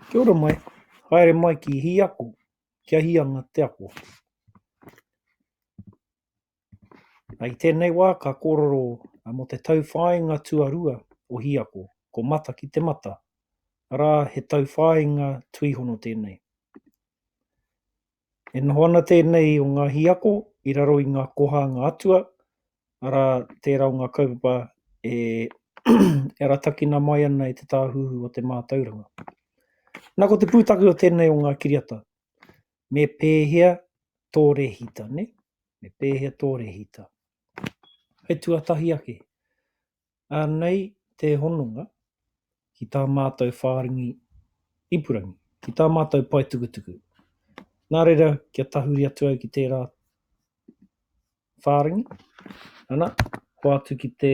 Kia ora mai. Haere mai ki hi ako. Kia hi anga te ako. I tēnei wā ka kōrero mō te tauwhāinga tuarua o hi ako, ko mata ki te mata, arā he tauwhāinga tuihono tēnei. E noho ana tēnei o ngā hīako i raro i ngā koha a ngā atua, arā, tērā o ngā kaupapa e e aratakina mai ana e te tāhuhu o te mātauranga. Nā ko te pūtake o tēnei o ngā kiriata, me pēhea tō rehita, ne? Me pēhea tō rehita. Hei tuatahi ake, Anei te hononga ki tā mātou whārangi ipurangi, ki tā mātou paetukutuku. Nā reira, kia tahuri atu au ki tērā whārangi, ana, hoatu ki te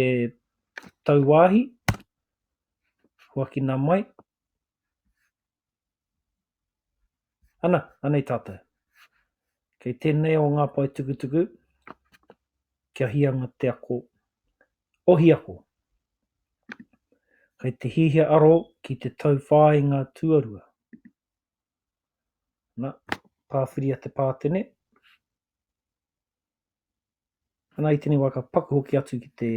tauwāhi, huakina mai, Ana, anei tātou. Kei tēnei o ngā paetukutuku, kia hianga te ako, ohi ako. Kei te hihia aro ki te tauwhāinga tuarua. Na, pāwhiria te pātene. Ana i tenei wa ka paku hoki atu ki te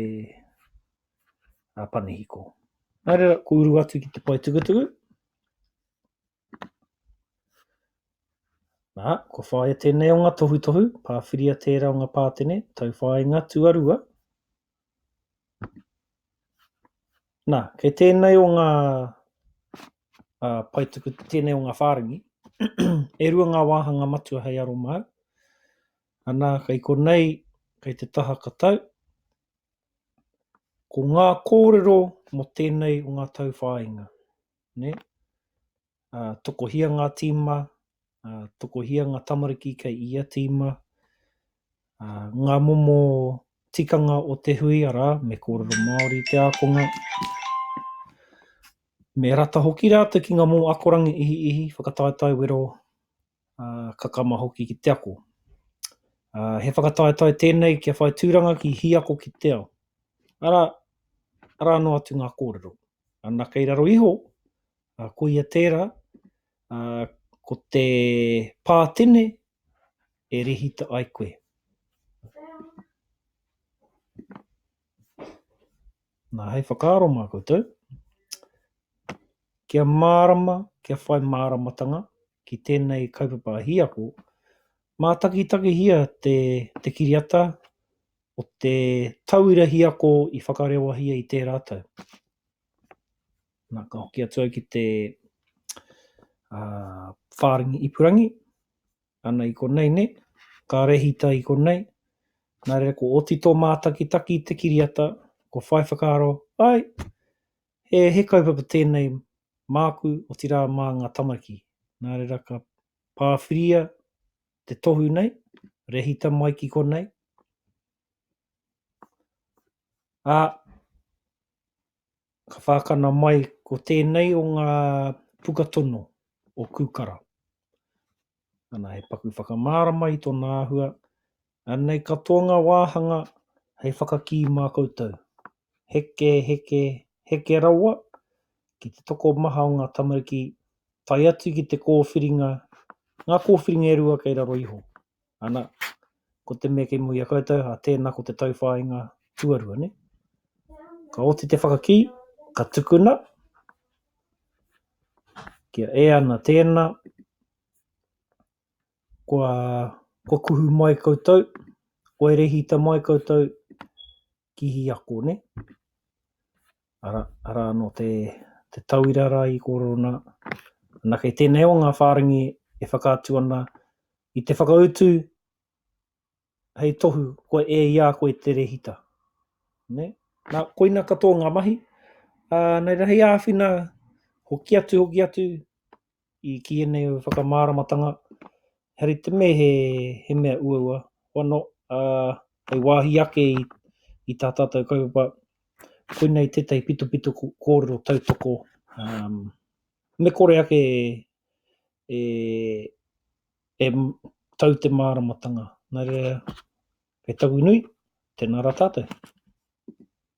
a pane hiko. Nā reira, ko uru atu ki te pae tukutuku. Nā, ko whāia tēnei o ngā tohutohu, pāwhiria tērā o ngā pātene, tauwhāinga tuarua, Nā, kei tēnei o ngā paetuku, tēnei o ngā whārangi, e rua ngā wāhanga matua hei aro māu. Anā, kei konei, kei te taha katau, ko ngā kōrero mō tēnei o ngā tauwhāinga. Ne? uh, tokohia ngā tīma, uh, tokohia ngā tamariki kei ia tīma, uh, ngā momo tikanga o te hui, arā, me kōrero Māori te ākonga. Me rata hoki rātou ki ngā momo akoranga ihi ihi, whakataetae wero, uh, kakama hoki ki te ako. Uh, he whakataetae tēnei kia whai tūranga ki hi ako ki te ao. Ara, ara anō atu ngā kōrero. Ana kei raro iho, Ā, koia tērā, ā, ko te pā tene e rēhita ai koe. Nā, hei whakaaro mā koutou, kia mārama, kia whai māramatanga ki tēnei kaupapa hiako, mātakitakihia te, te kiriata o te tauira hiako i whakarewahia i tērā tau. Na, ka hoki atu au ki te whārangi ipurangi, ana i konei nei, ka rehita i konei, nā reira ko oti tō mātakitaki i te kiriata, kua whai whakaaro, āe, he kaupapa tēnei māku, otirā mā ngā tamariki. Nā reira ka pāwhiria te tohu nei, rehita mai ki konei, ā, Ka whākana mai ko tēnei o ngā puka tono o Kūkara. Ana he paku whakamārama i tōna āhua, anei katoa ngā wāhanga hei whakakī mā koutou. Heke, heke, heke rawa ki te tokomaha o ngā tamariki tae atu ki te kōwhiringa, ngā kōwhiringa e rua kei raro iho. Ana, ko te mea kei mua i a koutou, a tēnā ko te tauwhāinga tuarua, nē? Ka oti te whakakī, ka tukuna, kia ea ana tēnā, kua, kua kuhu mai koutou, kua rehita mai koutou, ki Hiako ne. Ara, ara ano te, te tauira ra i korero na, na kei tenei o nga wharengi e whakaatu ana i te whakautu hei tohu koe e i a koe te rehita. Ne? Na, koina katoa nga mahi, a, nei ra hei awhina hoki atu, hoki atu, i kī ēnei whakamāramatanga, he rite me he mea uaua, wano, ā, hei wāhi ake i tā tātou kaupapa, koinei tētahi pitopito kōrero tautoko, me kore ake e, e tau te māramatanga. Nā reira, kei taku nui, tēnā rā tātou.